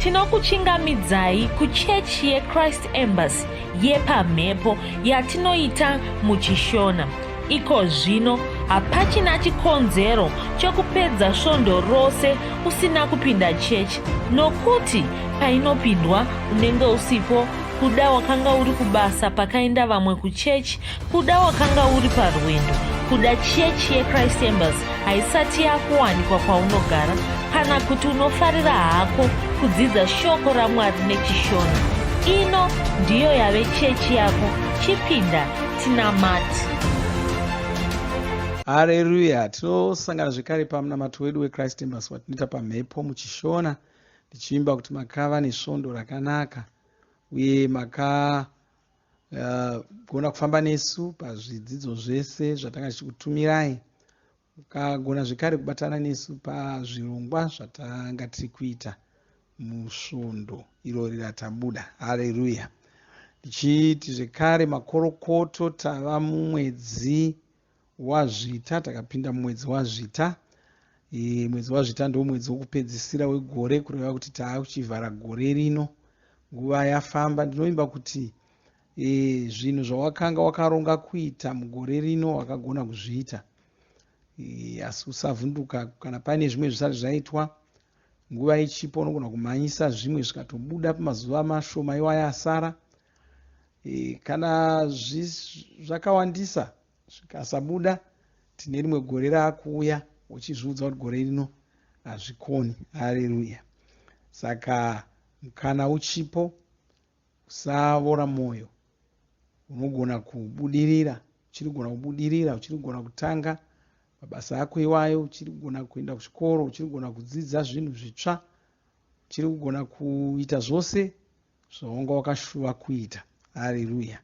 Tinokuchingamidzai kuchechi yeChrist Embassy yepamhepo yatinoita muChishona. Iko zvino hapachina chikonzero chokupedza svondo rose usina kupinda chechi nokuti painopindwa unenge usipo kuda wakanga uri kubasa pakaenda vamwe kuchechi Kuda wakanga uri parwendo kuda chechi yechrist embers haisati yakuwanikwa kwaunogara kana kuti unofarira hako kudzidza shoko ramwari nechishona ino ndiyo yave chechi yako chipinda tinamati hareruya tinosangana zvekare pamunamato wedu wechrist embers watinoita pamhepo muchishona ndichiimba kuti makava nesvondo rakanaka uye maka uh, gona kufamba nesu pazvidzidzo zvese zvatanga tichikutumirai mukagona zvekare kubatana nesu pazvirongwa zvatanga tiri kuita musvondo irori ratabuda hareruya tichiti zvekare makorokoto tava mumwedzi wazvita takapinda mumwedzi wazvita e, mwedzi wazvita ndo mwedzi wokupedzisira wegore kureva kuti taakuchivhara gore rino nguva yafamba ndinovimba kuti e, zvinhu zvawakanga wakaronga kuita mugore rino wakagona kuzviita e, asi usavhunduka kana paine zvimwe zvisati zvaitwa nguva ichipo unogona kumhanyisa zvimwe zvikatobuda pamazuva mashoma iwaya asara e, e, kana zvakawandisa zvikasabuda tine rimwe gore raakuuya uchizviudza kuti gore rino hazvikoni hareruya saka mukana uchipo usavora mwoyo unogona kubudirira uchirigona kubudirira uchirigona kutanga mabasa ako iwayo uchiri kugona kuenda kuchikoro uchiri kugona kudzidza zvinhu zvitsva uchiri kugona kuita zvose zvawanga wakashuva kuita. Hareruya!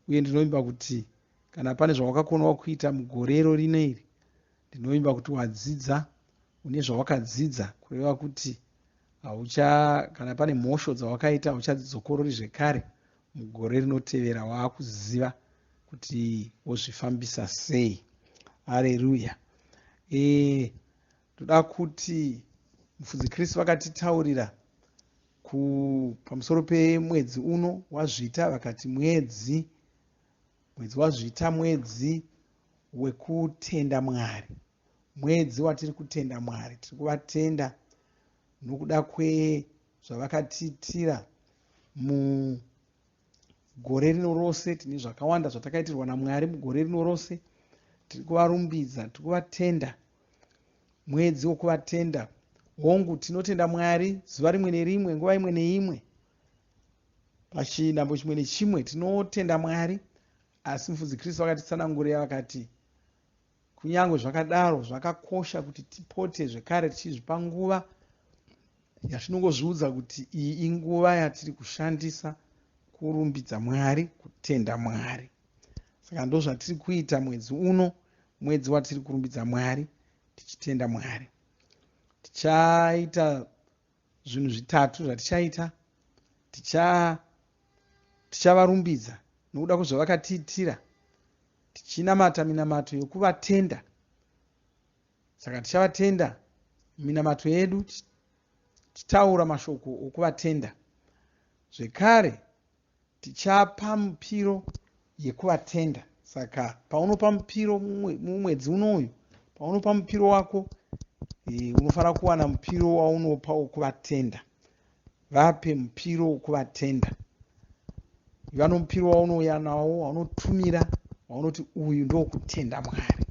Uye ndinovimba kuti kana pane zvawakakonawo kuita mugorero rino iri, ndinovimba kuti wadzidza, une zvawakadzidza, kureva kuti haucha, kana pane mhosho dzawakaita hauchadzidzokorori zvekare mugore rinotevera waakuziva kuti wozvifambisa sei. Hareruya! E, ndoda kuti mufudzi chris vakatitaurira pamusoro pemwedzi uno wazvita vakati mwedzi mwedzi wazvita mwedzi wekutenda mwari mwedzi watiri kutenda mwari tiri kuvatenda nokuda kwezvavakatiitira mu gore rino rose tine zvakawanda zvatakaitirwa namwari mugore rino rose tiri kuvarumbidza tiri kuvatenda mwedzi wokuvatenda hongu tinotenda mwari zuva rimwe nerimwe nguva imwe neimwe pachinambo chimwe nechimwe tinotenda mwari asi mufudzi kristu vakatitsanangurira vakati Kunyange zvakadaro, zvakakosha kuti tipote zvekare tichizvipa nguva yatinongozviudza kuti iyi inguva yatiri kushandisa kurumbidza Mwari, kutenda Mwari. Saka ndozvatiri kuita mwedzi uno, mwedzi watiri kurumbidza Mwari, tichitenda Mwari. Tichaita Zvinhu zvitatu zvatichaita tichavarumbidza ticha nokuda kwezvavakatiitira tichinamata minamato yokuvatenda saka tichavatenda minamato yedu tichitaura mashoko okuvatenda zvekare tichapa mupiro yekuvatenda saka paunopa mupiro mumwedzi uno uyu paunopa mupiro wako eh, unofanira kuwana mupiro waunopa wekuvatenda vape mupiro wekuvatenda iva nomupiro waunouya nawo waunotumira waunoti uyu ndokutenda mwari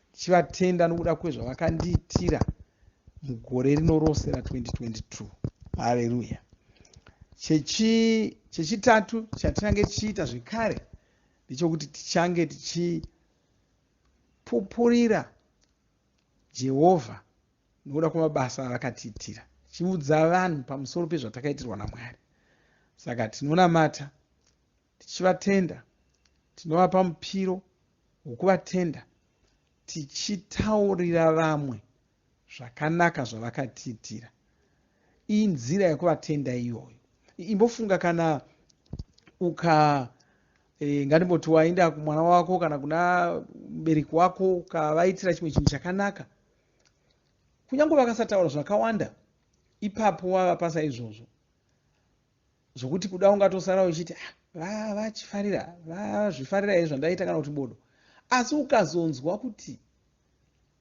ndichivatenda nokuda kwezvavakandiitira mugore rino rose ra 2022 hareruya chechitatu chatinange tichiita zvekare ndechokuti tichange tichipupurira jehovha nokuda kwemabasa avakatiitira tichiudza vanhu pamusoro pezvatakaitirwa namwari saka tinonamata tichivatenda, tinovapa mupiro wokuvatenda tichitaurira vamwe zvakanaka zvavakatiitira. Inzira yekuvatenda iyoyo. Imbofunga kana uka e, ngatimboti waenda kumwana wako kana kuna mubereki wako ukavaitira chimwe chinhu chakanaka kunyange vakasataura zvakawanda ipapo wavapasa izvozvo zvokuti kuda ungatosara uchiti ah, vaa vachifarira vazvifarira here zvandaita kana kuti bodo asi ukazonzwa kuti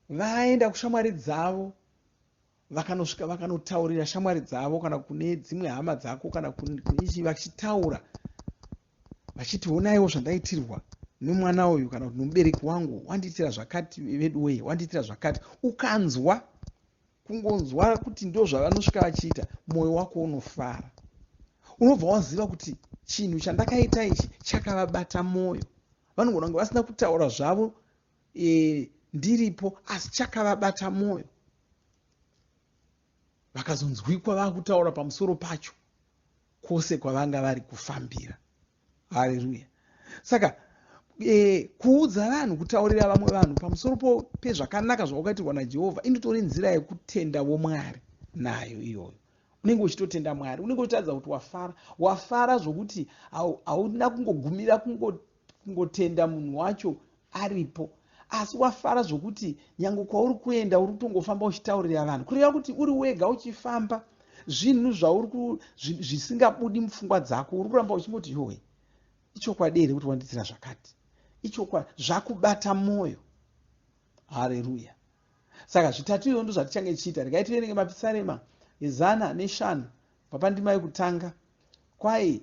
vaenda kushamwari dzavo vakanosvika vakanotaurira shamwari dzavo kana kune dzimwe hama dzako kana kuneichi vachitaura vachiti onaiwo zvandaitirwa nemwana uyu kana kuti nomubereki wangu wandiitira zvakati veduwee wandiitira zvakati ukanzwa kungonzwa kuti ndozvavanosvika vachiita mwoyo wako unofara unobva waziva kuti chinhu chandakaita ichi chakavabata mwoyo vanogona kunge vasina kutaura zvavo e, ndiripo asi chakavabata mwoyo vakazonzwikwa vakutaura pamusoro pacho kwose kwavanga vari kufambira haleluya saka e, kuudza vanhu kutaurira vamwe vanhu pamusoro pezvakanaka zvawakaitirwa najehovha inotori nzira yekutenda vomwari nayo iyoyo unenge uchitotenda mwari unenge uchitaridza kuti wafara wafara zvokuti hauna kungogumira kungotenda munhu wacho aripo asi wafara zvokuti nyange kwauri kuenda uri kutongofamba uchitaurira vanhu kureva kuti uri wega uchifamba zvinhu zvauri zvisingabudi mupfungwa dzako uri kuramba uchingoti yowe ichokwadi here kuti wandiitira zvakati ichokwa zvakubata mwoyo hareruya saka zvitatu izvo ndo zvatichange tichiita regai tiverenge mapisarema ezana neshanu papandima yekutanga kwai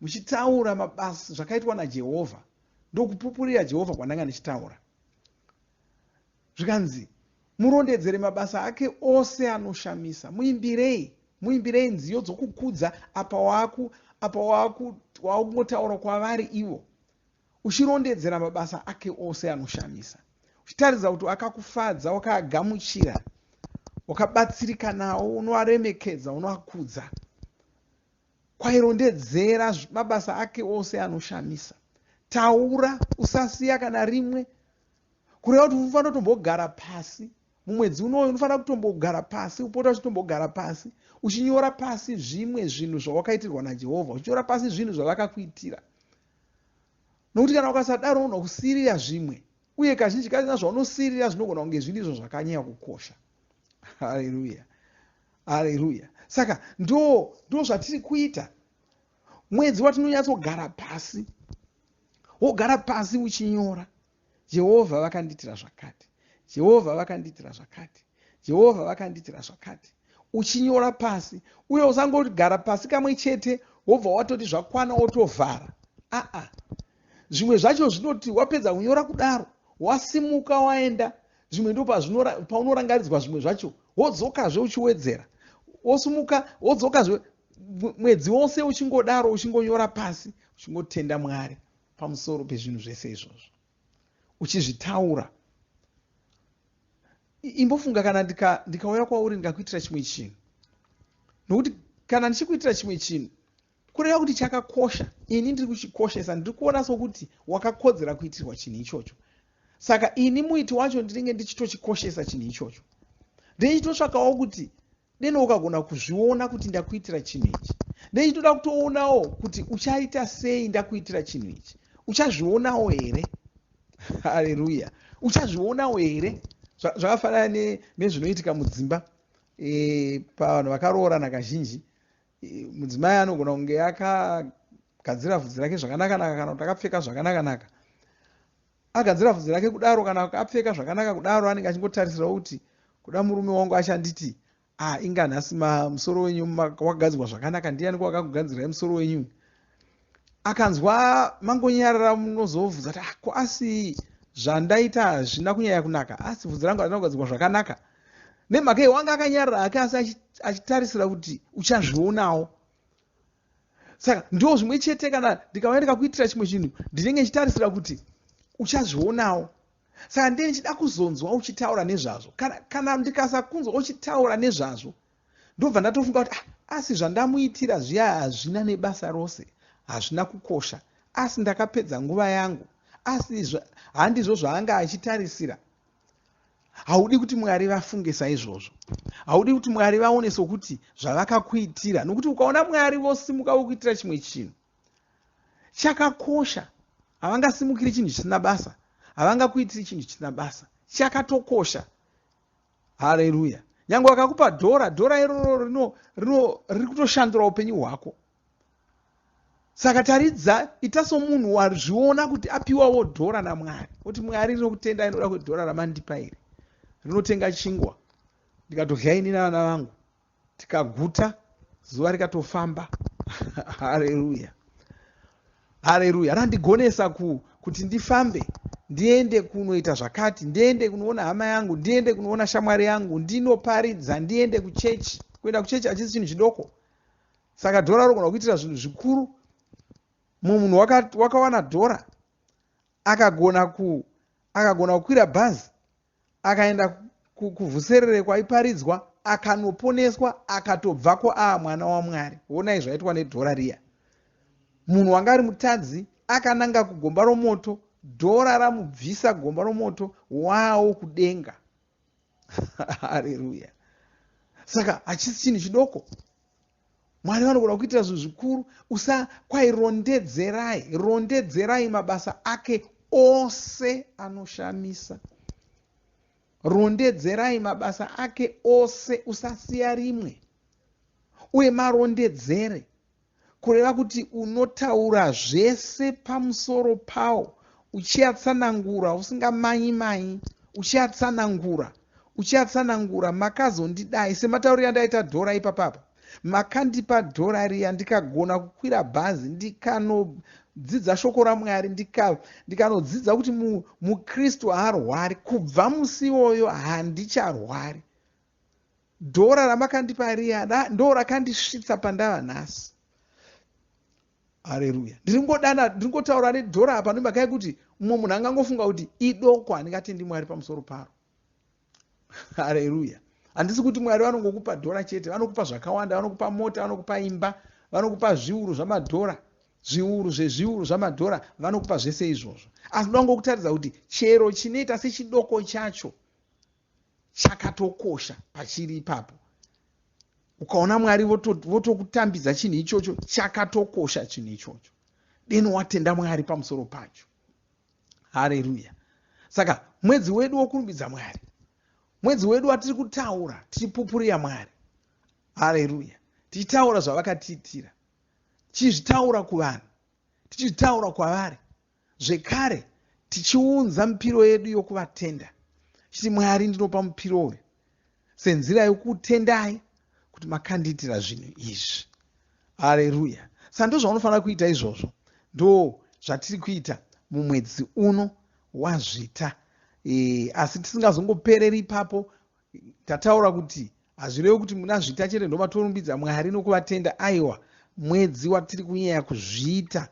muchitaura mabasa zvakaitwa najehovha ndokupupurira jehovha kwandanga ndichitaura zvikanzi murondedzere mabasa ake ose anoshamisa muimbirei muimbirei nziyo dzokukudza apa waku apa wakungotaura kwavari ivo uchirondedzera mabasa ake ose anoshamisa uchitaridza kuti wakakufadza wakaagamuchira wakabatsirika nawo unoaremekedza unoakudza Kwairondedzera mabasa ake ose anoshamisa. Taura, usasiya kana rimwe. Kureva kuti unofanira kutombogara pasi mumwedzi unoyu, unofanira kutombogara pasi, upota uchitombogara pasi, uchinyora pasi zvimwe zvinhu zvawakaitirwa naJehovha, uchinyora pasi zvinhu zvavakakuitira. Nokuti kana ukasadaro unogona kusirira zvimwe, uye kazhinji kazina zvaunosirira zvinogona kunge zviri izvo zvakanyanya kukosha. Haleluya! haleluya saka ndo ndo zvatiri kuita mwedzi watinonyatsogara pasi wogara pasi uchinyora jehovha vakandiitira zvakati jehovha vakandiitira zvakati jehovha vakandiitira zvakati uchinyora pasi uye usangogara pasi kamwe chete wobva watoti zvakwana wotovhara aa zvimwe zvacho zvinoti wapedza kunyora kudaro wasimuka waenda zvimwe ndo paunorangaridzwa zvimwe zvacho wodzokazve uchiwedzera wosumuka wodzokazve mwedzi wose uchingodaro uchingonyora pasi uchingotenda mwari pamusoro pezvinhu zvese izvozvo uchizvitaura imbofunga kana ndikauya kwauri ndikakuitira chimwe chinhu nokuti kana ndichikuitira chimwe chinhu kureva kuti chakakosha ini ndiri kuchikoshesa ndiri kuona sokuti wakakodzera kuitirwa chinhu ichocho saka ini muiti wacho ndinenge ndichitochikoshesa chinhu ichocho ndeichitotsvakawo kuti deno ukagona kuzviona kuti ndakuitira chinhu ichi ndeichitoda kutoonawo kuti uchaita sei ndakuitira chinhu ichi uchazvionawo here hareruya uchazvionawo here zvakafanana nezvinoitika mudzimba e, pavanhu vakaroorana kazhinji mudzimai anogona kunge akagadzira vhudzi rake zvakanakanaka kana kuti akapfeka zvakanakanaka agadzira vhudzi rake kudaro kana apfeka zvakanaka kudaro anenge achingotarisira kuti kuda murume wangu achanditi ah inga nhasi musoro wenyu wakagadzirwa zvakanaka ndiani kwakakugadzira musoro wenyu akanzwa mangonyarara munozovudza kuti ah, ko asi zvandaita hazvina kunyaya kunaka asi vhudzi rangu hazvina kugadzirwa zvakanaka nemhaka iyo wanga akanyarara hake asi achitarisira kuti uchazvionawo saka ndiwo zvimwe chete kana ndikauya ndikakuitira chimwe chinhu ndinenge ndichitarisira kuti uchazvionawo saka ndee ndichida kuzonzwa uchitaura nezvazvo kana, kana ndikasakunzwa uchitaura nezvazvo ndobva ndatofunga kuti ah, asi zvandamuitira zviya hazvina nebasa rose hazvina kukosha asi ndakapedza nguva yangu asi handizvo zvaanga achitarisira haudi kuti mwari vafunge saizvozvo haudi kuti mwari vaone sokuti zvavakakuitira nokuti ukaona mwari vosimuka vokuitira chimwe chinhu chakakosha havangasimukiri chinhu chisina basa havangakuitiri chinhu chisina basa chakatokosha haleluya nyange wakakupa dhora dhora iroro rino rino riri kutoshandura upenyu hwako saka taridza ita somunhu wazviona kuti apiwawo dhora namwari kuti mwari rinokutenda inoda kuti dhora ramandipa iri rinotenga chingwa ndikatodya ini navana vangu tikaguta zuva rikatofamba hareruya hareruya randigonesa ku, kuti ndifambe ndiende kunoita zvakati ndiende kunoona hama yangu ndiende kunoona shamwari yangu ndinoparidza ndiende kuchechi kuenda kuchechi hachisi chinhu chidoko saka dhora rogona kuitira zvinhu zvikuru mumwe munhu wakawana dhora akagona ku akagona kukwira bhazi akaenda kuvhuserere kwaiparidzwa akanoponeswa akatobvako aa mwana wamwari wonai zvaitwa nedhora riya munhu wanga ari mutadzi akananga kugomba romoto dhora ramubvisa gomba romoto wawo kudenga hareruya saka hachisi chinhu chidoko mwari vanogona kuitira zvinhu zvikuru usakwai rondedzerai rondedzerai mabasa ake ose anoshamisa rondedzerai mabasa ake ose usasiya rimwe uye marondedzere kureva kuti unotaura zvese pamusoro pawo uchiatsanangura usingamanyi manyi uchiatsanangura uchi Uchatsanangura makazondidai sematauriro andaita dhora ipapa apa. Makandipa dhora riya ndikagona kukwira bhazi ndikanodzidza shoko raMwari ndikanodzidza ndika kuti mu, muKristu haarwari kubva musi iwoyo handicharwari. Dhora ramakandipa riya ndorakandisvitsa pandava nhasi. hareruya ndiri kungodana ndiri kungotaura nedhora apa nemhaka yekuti mumwe munhu angangofunga kuti idoko handingatendi mwari pamusoro paro hareruya handisi kuti mwari vanongokupa dhora chete vanokupa zvakawanda vanokupa mota vanokupa imba vanokupa zviuru zvamadhora zviuru zvezviuru zvamadhora vanokupa zvese izvozvo asi ndoda ngokutaridza kuti chero chinoita sechidoko chacho chakatokosha pachiri ipapo ukaona mwari votokutambidza voto chinhu ichocho chakatokosha chinhu ichocho deno watenda mwari pamusoro pacho hareruya saka mwedzi wedu wokurumbidza mwari mwedzi wedu watiri kutaura tichipupurira mwari hareruya tichitaura zvavakatiitira tichizvitaura kuvanhu tichizvitaura kwavari Zvekare, tichiunza mipiro yedu yokuvatenda, chiti, Mwari, ndinopa mupiro uyu senzira yokutendai kuti makandiitira zvinhu izvi. Areruya! Saka ndozvaunofanira kuita izvozvo. Ndo zvatiri kuita mumwedzi uno waZvita. E, asi tisingazongopereri ipapo, tataura kuti hazvirevi kuti muna zvita chete ndovatorumbidza mwari nokuvatenda aiwa mwedzi watiri kunyaya kuzviita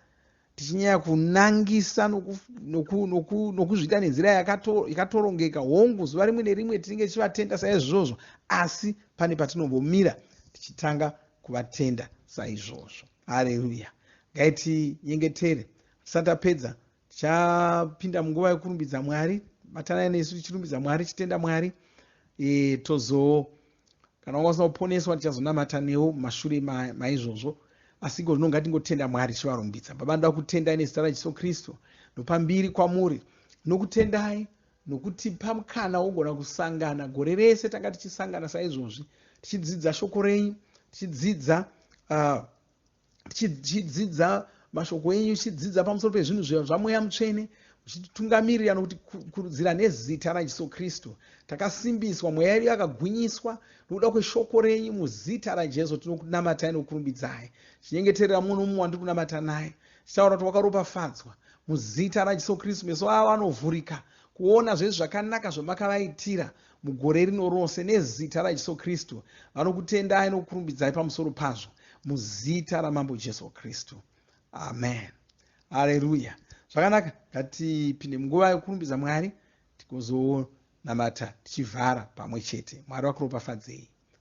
tichinyaya kunangisa nokuzviita nenzira yakatorongeka hongu zuva rimwe nerimwe tinenge tichivatenda saizvozvo asi pane patinombomira tichitanga kuvatenda saizvozvo hareruya ngaitinyengetere tisati apedza tichapinda munguva yekurumbidza mwari batanai nesu tichirumbidza mwari tichitenda mwari e, tozo kana wanga usina kuponeswa tichazonamata newo mashure maizvozvo ma asi iko zvino ngatingotenda mwari tichivarumbidza baba ndoda kutendai nezita rajesu kristu ndopambiri kwamuri nokutendai nokutipa mukana wogona kusangana gore rese tanga tichisangana saizvozvi tichidzidza shoko renyu tichidzidza uh, tichidzidza mashoko enyu tichidzidza pamusoro pezvinhu zvamweya mutsvene uchititungamirira nokuti kurudzira nezita rajesu kristu takasimbiswa mweya yedu yakagwinyiswa nokuda kweshoko renyu muzita rajesu tinokunamatai nokurumbidzai chinyengeterera mumwe nomumwe wandiri kunamata naye chitaura kuti wakaropafadzwa muzita rajesu kristu meso avo anovhurika kuona zvezvi zvakanaka zvamakavaitira mugore rino rose nezita raJesu Kristu vanokutendai nokukurumbidzai pamusoro pazvo muzita raMambo Jesu Kristu amen haleluya zvakanaka ngatipinde munguva yokurumbidza Mwari tikozonamata tichivhara pamwe chete Mwari vakuropafadzei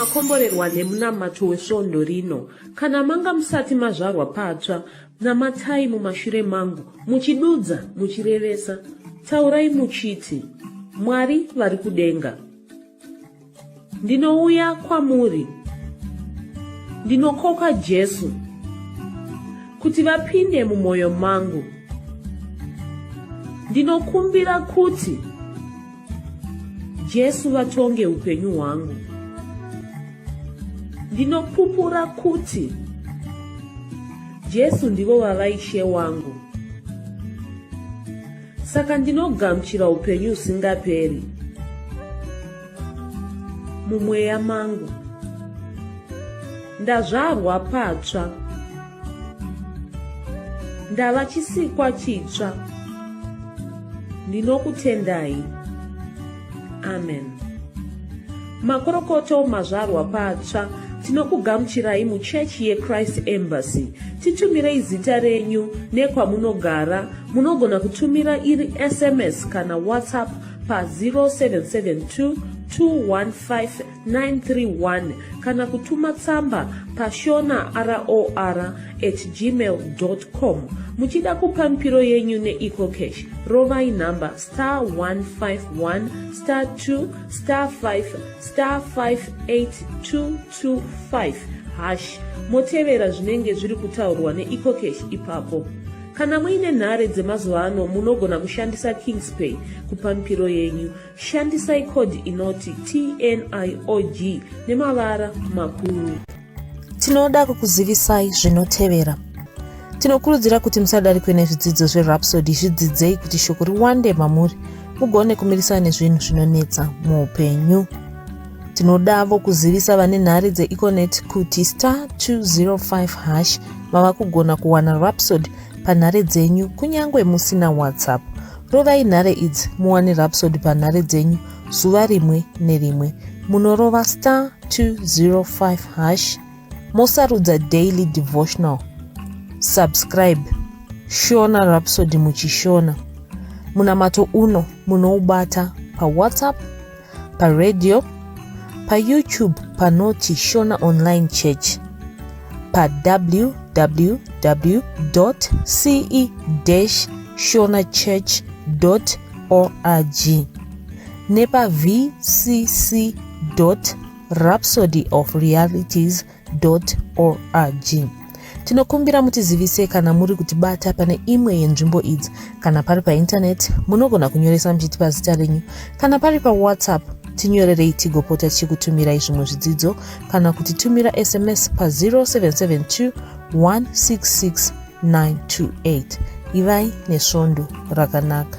makomborerwa nemunamato wesvondo rino kana manga musati mazvarwa patsva Namatai mumashure mangu, muchidudza, muchirevesa, taurai muchiti, Mwari vari kudenga, ndinouya kwamuri, ndinokoka Jesu kuti vapinde mumwoyo mangu, ndinokumbira kuti Jesu vatonge upenyu hwangu. Ndinopupura kuti Jesu ndivo vava ishe wangu. Saka ndinogamuchira upenyu usingaperi mumweya mangu. Ndazvarwa patsva. ndava chisikwa chitsva ndinokutendai amen makorokoto mazvarwa patsva tinokugamuchirai muchechi yechrist embassy titumirei zita renyu nekwamunogara munogona kutumira iri sms kana whatsapp pa 0772 215 931 kana kutuma tsamba pashona ror at gmail com muchida kupa mipiro yenyu neecocash rovai nhamba star 151 star 2 star 5 star 58225 hash motevera zvinenge zviri kutaurwa neecocash ipapo kana muine nhare dzemazuva ano munogona kushandisa kingspay kupa mipiro yenyu Shandisai code inoti TNIOG nemavara makuru. Tinoda kukuzivisai zvinotevera. Tinokurudzira kuti musadarikwe nezvidzidzo zveRhapsody zvidzidzei kuti shoko riwande mamuri mugone kumirisana nezvinhu zvinonetsa muupenyu. Tinodavo kuzivisa vane nhare dzeEconet kuti star 205 hash mava kugona kuwana Rhapsody panhare dzenyu kunyange musina WhatsApp. Rovai nhare idzi muwane Rhapsody panhare dzenyu zuva rimwe nerimwe. Munorova star 205 hash mosarudza daily devotional. Subscribe Shona Rhapsody muchishona. Munamato uno munoubata paWhatsApp paradio payoutube panoti shona online church pawww ce shona church org nepavcc rhapsody of realities org tinokumbira mutizivise kana muri kutibata pane imwe yenzvimbo idzi kana pari paintaneti munogona kunyoresa muchitipa zita renyu kana pari pawhatsapp tinyorerei tigopota tichikutumirai zvimwe zvidzidzo kana kuti tumira sms pa 0772 166 928 ivai nesvondo rakanaka